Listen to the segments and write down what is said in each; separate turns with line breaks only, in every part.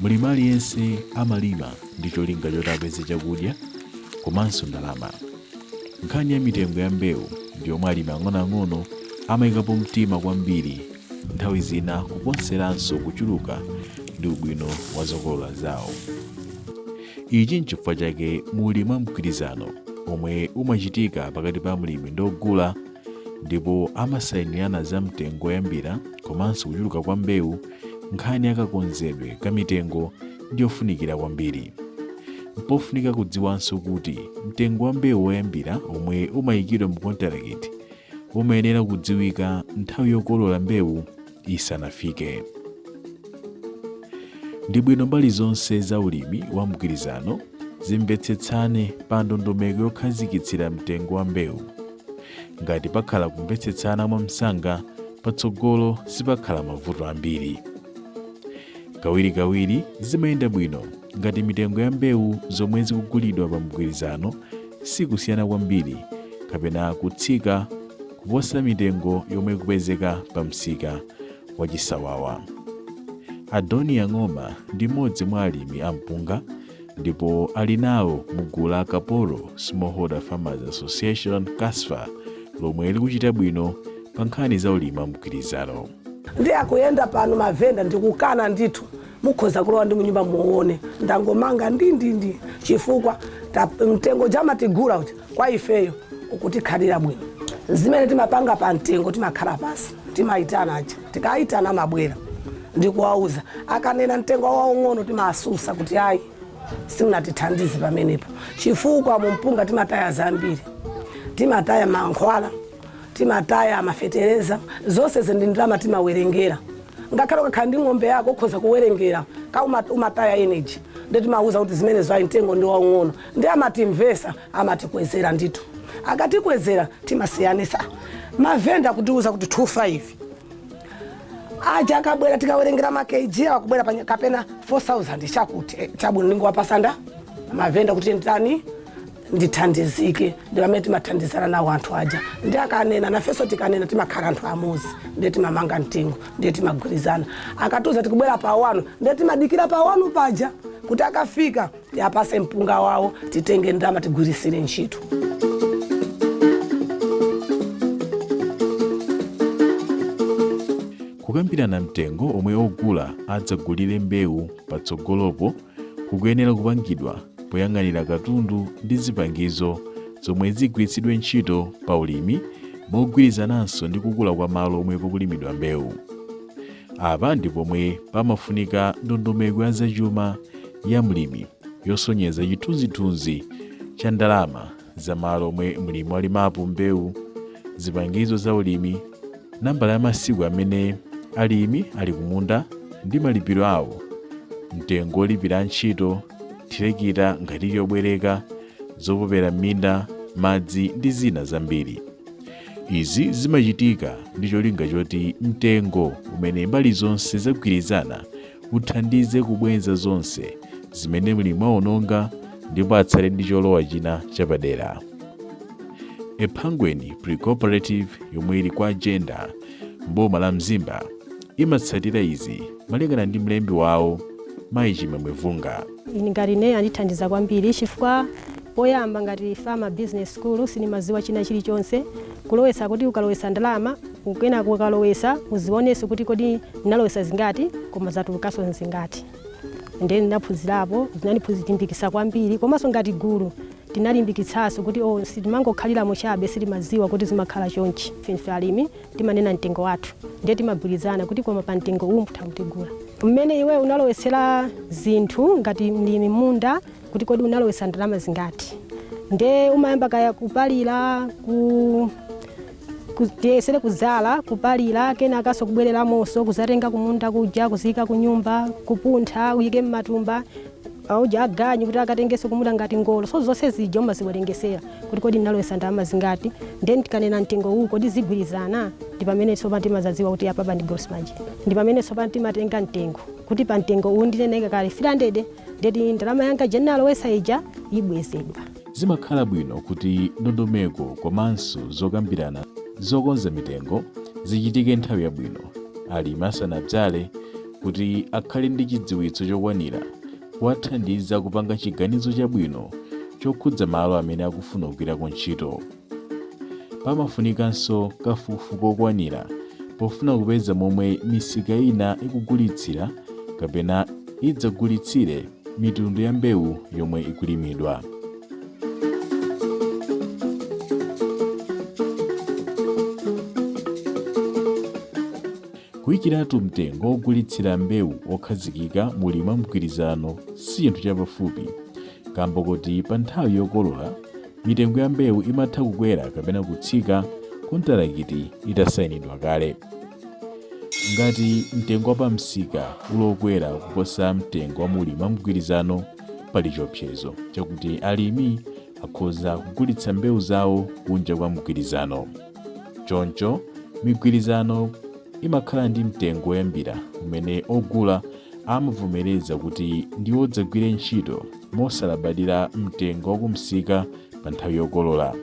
mlimi aliyense amalima ndi cholinga choti apeze chakudya komanso ndalama Nkhani ya mitengo ya mbewu ndi yomwe alimi ang'onoang'ono amayikapo mtima kwambiri, nthawi zina kuposeranso kuchuluka ndi ubwino wa zokolola zawo. Ichi n'chifukwa chake mulimi wa mgwirizano omwe umachitika pakati pa mlimi ndi ogula ndipo amasayinirana za mtengo woyambira komanso kuchuluka kwa mbewu nkhani ya kakonzedwe ka mitengo ndi yofunikira kwambiri. Mpofunika kudziwanso kuti mtengo wa mbewu woyambira omwe umayikidwa mu kontalakiti umayenera kudziwika nthawi yokolola mbewu isanafike. Ndi bwino mbali zonse za ulimi wa mgwirizano zimvetsetsane pa ndondomeko yokhazikitsira mtengo wa mbewu. Ngati pakhala kumvetsetsana mwamsanga, patsogolo sipakhala mavuto ambiri. Kawirikawiri zimayenda bwino ngati mitengo ya mbewu zomwe zikugulidwa pa mgwirizano sikusiyana kwambiri kapena kutsika kuposa mitengo yomwe ikupezeka pa msika wachisawawa. Adoniya Ng'oma ndi mmodzi mwa alimi a mpunga ndipo ali nawo mu gulu la kapolo smallholder farmers association KASFA lomwe likuchita bwino pa nkhani za ulimi wa mgwirizano ndi akuyenda pano mavenda ndikukana ndithu mukhoza kulowa ndi munyumba muone ndangomanga ndindindi chifukwa ta- mtengo amatigula uja kwa ifeyo ukutikhalira bwino zimene timapanga pa mtengo timakhala pasi timayitana aja tikayitana amabwera ndikuwauza akanena mtengo waung'ono timasusa kuti ayi simunatithandize pamenepo chifukwa mumpunga timataya zambiri timataya mankhwala timataya mafetereza zonsezi ndi ndalama timawerengera ngakhale ukakhala ndi ng'ombe yako ukhoza kuwerengera ka uma- umataya energy nde timawauza kuti zimenezo ayi mtengo ndi waung'ono Nde amatimvesa amatikwezera ndithu akatikwezera timasiyanisa mavenda kutiuza kuti 25 aja akabwera tikawerengera ma kg awo akubwera panya- kapena 4000 chakuti eh, chabwino ndingowapasanda mavenda kuti nditani ndithandizike ndi pamene timathandizana nawo anthu aja ndi akanena nafenso tikanena timakhala anthu amozi ndiye timamanga mtengo ndiye timagwirizana akatiuza tikubwera pa wanu ndiye timadikira pa wanu paja kuti akafika tiapase mpunga wawo titenge ndalama tigwirisire ntchito kukambirana mtengo omwe ogula adzagulire mbewu patsogolopo kukuyenera kupangidwa poyang'anira katundu ndi zipangizo zomwe zigwiritsidwe ntchito pa ulimi mogwirizananso ndi kukula kwa malo omwe pakulimidwa mbewu Apa ndi pomwe pamafunika ndondomeko ya zachuma ya mlimi yosonyeza chithunzithunzi cha ndalama za malo omwe mlimi walimapo mbewu, zipangizo za ulimi, nambala ya masiku amene alimi ali kumunda ndi malipiro awo, mtengo wolipira antchito, thirekita ngati ili yobwereka, zopopera m'minda, madzi ndi zina zambiri. Izi zimachitika ndi cholinga choti mtengo umene mbali zonse zagwirizana uthandize kubwenza zonse zimene mlimi waononga ndipo atsale ndi cholowa china chapadera. Ephangweni Pre-Cooperative yomwe ili kwa Jenda m'boma la Mzimba imatsatira izi malingana ndi mlembi wawo Mayi Chimwemwe Vunga. Ine ngati ine andithandiza kwambiri chifukwa poyamba ngati farmer business school sindimaziwa china chilichonse kulowesa kuti ukalowesa ndalama ukena kukalowesa uzioneso kuti kodi ndinalowesa zingati koma zatulukaso nzingati ndiye ndinaphunzirapo zinandilimbikisa kwambiri komanso ngati gulu tinalimbikitsaso kuti o, sitimangokhaliramo chabe sitimaziwa kuti zimakhala chonchi ifeyo alimi timanena mtengo wathu ndiye timagwirizana kuti koma pa mtengo uwu mutha kutigula mmene iwe unalowetsera zinthu ngati mlimi mmunda kuti kodi unalowetsa ndalama zingati nde umayamba kaya kupalira ku ku- tiyesere kuzala kupalira kenakaso kubwereramonso kuzatenga kumunda kuja kuziyika kunyumba kupuntha uyike mmatumba auja aganyu kuti akatengeso kumunda ngati ngolo so zonse zija umaziwerengesera kuti kodi ndinalowesa ndalama zingati then tikanena mtengo uwu kodi zigwirizana ndi pamene tsopano timazadziwa kuti apapa ndi gross margin ndi pamene tsopano timatenga mtengo kuti pa mtengo uwu ndinenekale 300 ndeti ndalama yanga ija ndinalowesa ija ibwezedwa zimakhala bwino kuti ndondomeko komanso zokambirana zokonza mitengo zichitike nthawi yabwino alimi asanadzale kuti akhale ndi chidziwitso chokwanira kuwathandiza kupanga chiganizo chabwino chokhudza malo amene akufuna kugwirako ntchito. Pamafunikanso kafukufuku wokwanira pofuna kupeza momwe misika ina ikugulitsira kapena idzagulitsire mitundu ya mbewu yomwe ikulimidwa. Kuyikiratu mtengo wogulitsira mbewu wokhazikika mu ulimi wa mgwirizano si chinthu chapafupi, kaamba koti pa nthawi yokolola, mitengo ya mbewu imatha kukwera kapena kutsika kontalakiti itasainidwa kale. Ngati mtengo wa pamsika uli wokwera kuposa mtengo wa mu ulimi wa mgwirizano, pali chiopsezo chakuti alimi akhoza kugulitsa mbewu zawo kunja kwa mgwirizano. Choncho, migwirizano imakhala ndi mtengo woyambira umene ogula amavomereza kuti ndi wodzagwira ntchito mosalabadira mtengo wakumsika pa nthawi yokolola.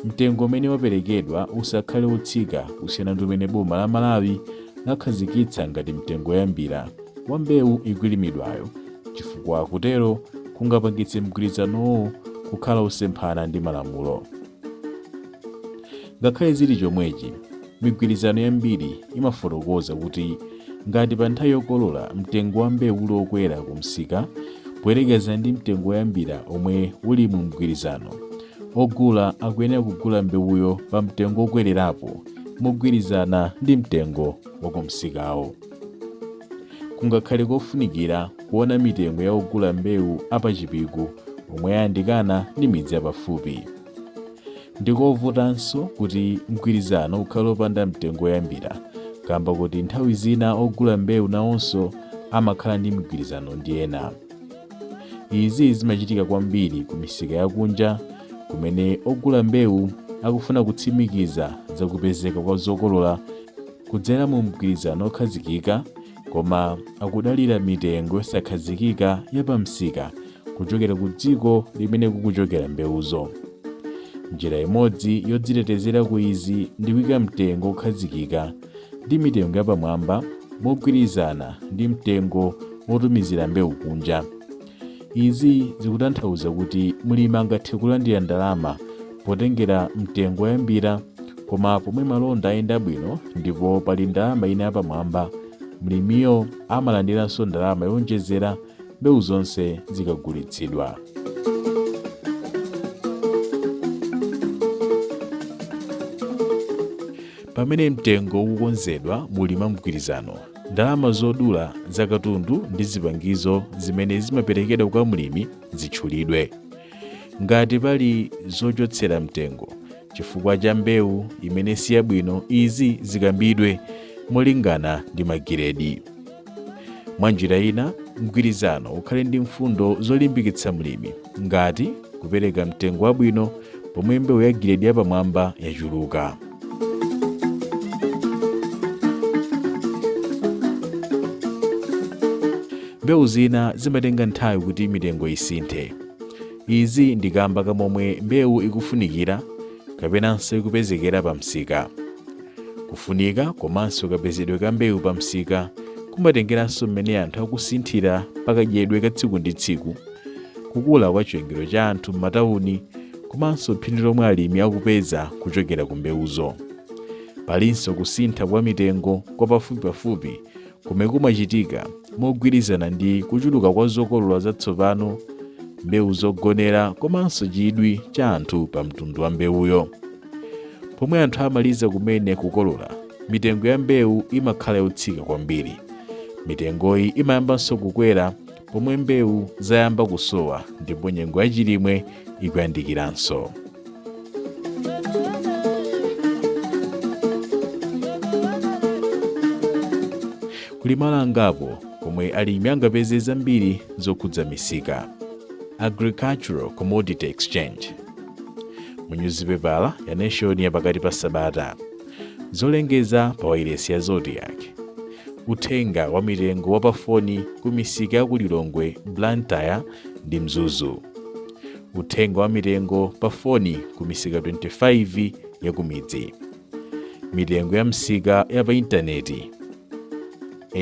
Mtengo umene waperekedwa usakhale wotsika kusiyana ndi umene boma la Malawi lakhazikitsa ngati mtengo woyambira wa mbewu ikulimidwayo chifukwa kutero kungapangitse mgwirizanowo kukhala wosemphana ndi malamulo. Ngakhale zili chomwechi, migwirizano yambiri imafotokoza kuti ngati pa nthawi yokolola mtengo wa mbewu uli wokwera ku msika poyerekeza ndi mtengo woyambira omwe uli mu mgwirizano, ogula akuyenera kugula mbewuyo pa mtengo wokwererapo mogwirizana ndi mtengo wa ku msikawo. kungakhale kofunikira kuona mitengo ya ogula mbewu apachipiku omwe ayandikana ndi midzi yapafupi ndikovutanso kuti mgwirizano ukhale opanda mtengo woyambira kamba kuti nthawi zina ogula mbewu nawonso amakhala ndi mgwirizano ndi ena izi zimachitika kwambiri ku misika yakunja kumene ogula mbewu akufuna kutsimikiza zakupezeka kwa zokolola kudzera mu mgwirizano okhazikika koma akudalira mitengo yosakhazikika ya pamsika kuchokera ku dziko limene kukuchokera mbewuzo njira imodzi yodzitetezera ku izi ndi kuika mtengo wokhazikika ndi mitengo yapamwamba mogwirizana ndi mtengo wotumizira mbewu kunja izi zikutanthauza kuti mlimi angathe kulandira ndalama potengera mtengo woyambira koma pomwe malonda ayenda bwino ndipo pali ndalama ina yapamwamba mlimiyo amalandiranso ndalama yowonjezera mbewu zonse zikagulitsidwa pamene mtengo ukukonzedwa mu ulimi wa mgwirizano ndalama zogula za katundu ndi zipangizo zimene zimaperekedwa kwa mlimi zitchulidwe ngati pali zochotsera mtengo chifukwa cha mbewu imene si yabwino izi zikambidwe molingana ndi magiredi mwa njira ina mgwirizano ukhale ndi mfundo zolimbikitsa mlimi ngati kupereka mtengo wabwino pomwe mbewu ya giredi yapamwamba yachuluka Mbewu zina zimatenga nthawi kuti mitengo isinthe. Izi ndi kamba ka momwe mbewu ikufunikira kapenanso ikupezekera pa msika. Kufunika komanso kapezedwe ka mbewu pa msika kumatengeranso mmene anthu akusinthira pakadyedwe ka tsiku ndi tsiku, kukula kwa chiwerengero cha anthu m'matawuni komanso phindu lomwe alimi akupeza kuchokera ku mbewuzo. Palinso kusintha kwa mitengo kwa pafupipafupi komwe kumachitika mogwirizana ndi kuchuluka kwa zokolola zatsopano, mbewu zogonera komanso chidwi cha anthu pa mtundu wa mbewuyo. Pomwe anthu amaliza kumene kukolola, mitengo ya mbewu imakhala yotsika kwambiri. Mitengoyi imayambanso kukwera pomwe mbewu zayamba kusowa ndipo nyengo ya chilimwe ikuyandikiranso kuli malo angapo komwe alimi angapeze zambiri zokhudza misika agricultural commodity exchange mu nyuzipepala ya nation ya pakati pa sabata zolengeza pa wailesi ya zodiak uthenga wa mitengo wa pafoni ku misika ya ku lilongwe blantyre ndi mzuzu uthenga wa mitengo pa foni ku misika 25 ya kumidzi mitengo ya misika ya pa intaneti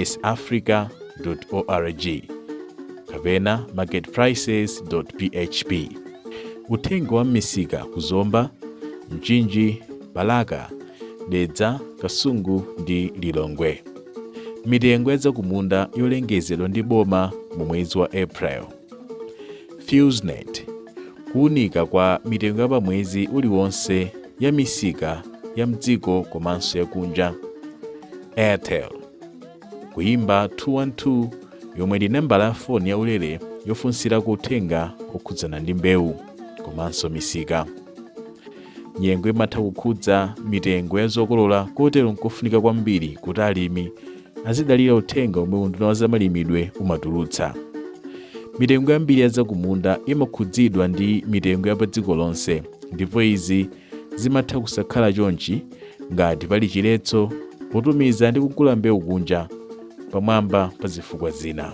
safrica.org kapena marketprices.php. Uthenga wa m'misika ku Zomba, Mchinji, Balaka, Dedza, Kasungu ndi Lilongwe. Mitengo ya zakumunda yolengezedwa ndi boma mu mwezi wa April. FEWSNET, kuunika kwa mitengo ya pamwezi uliwonse ya misika ya mdziko komanso ya kunja. Airtel, kuimba 212 yomwe ndi nambala ya foni ya ulere yofunsirako uthenga okhudzana ndi mbewu komanso misika. Nyengo imatha kukhudza mitengo ya zokolola kotero nkofunika kwambiri kuti alimi azidalira uthenga omwe unduna wa zamalimidwe umatulutsa mitengo yambiri ya zakumunda imakhudzidwa ndi mitengo ya pa dziko lonse ndipo izi zimatha kusakhala chonchi ngati pali chiletso potumiza ndi kugula mbewu kunja pamwamba pa zifukwa zina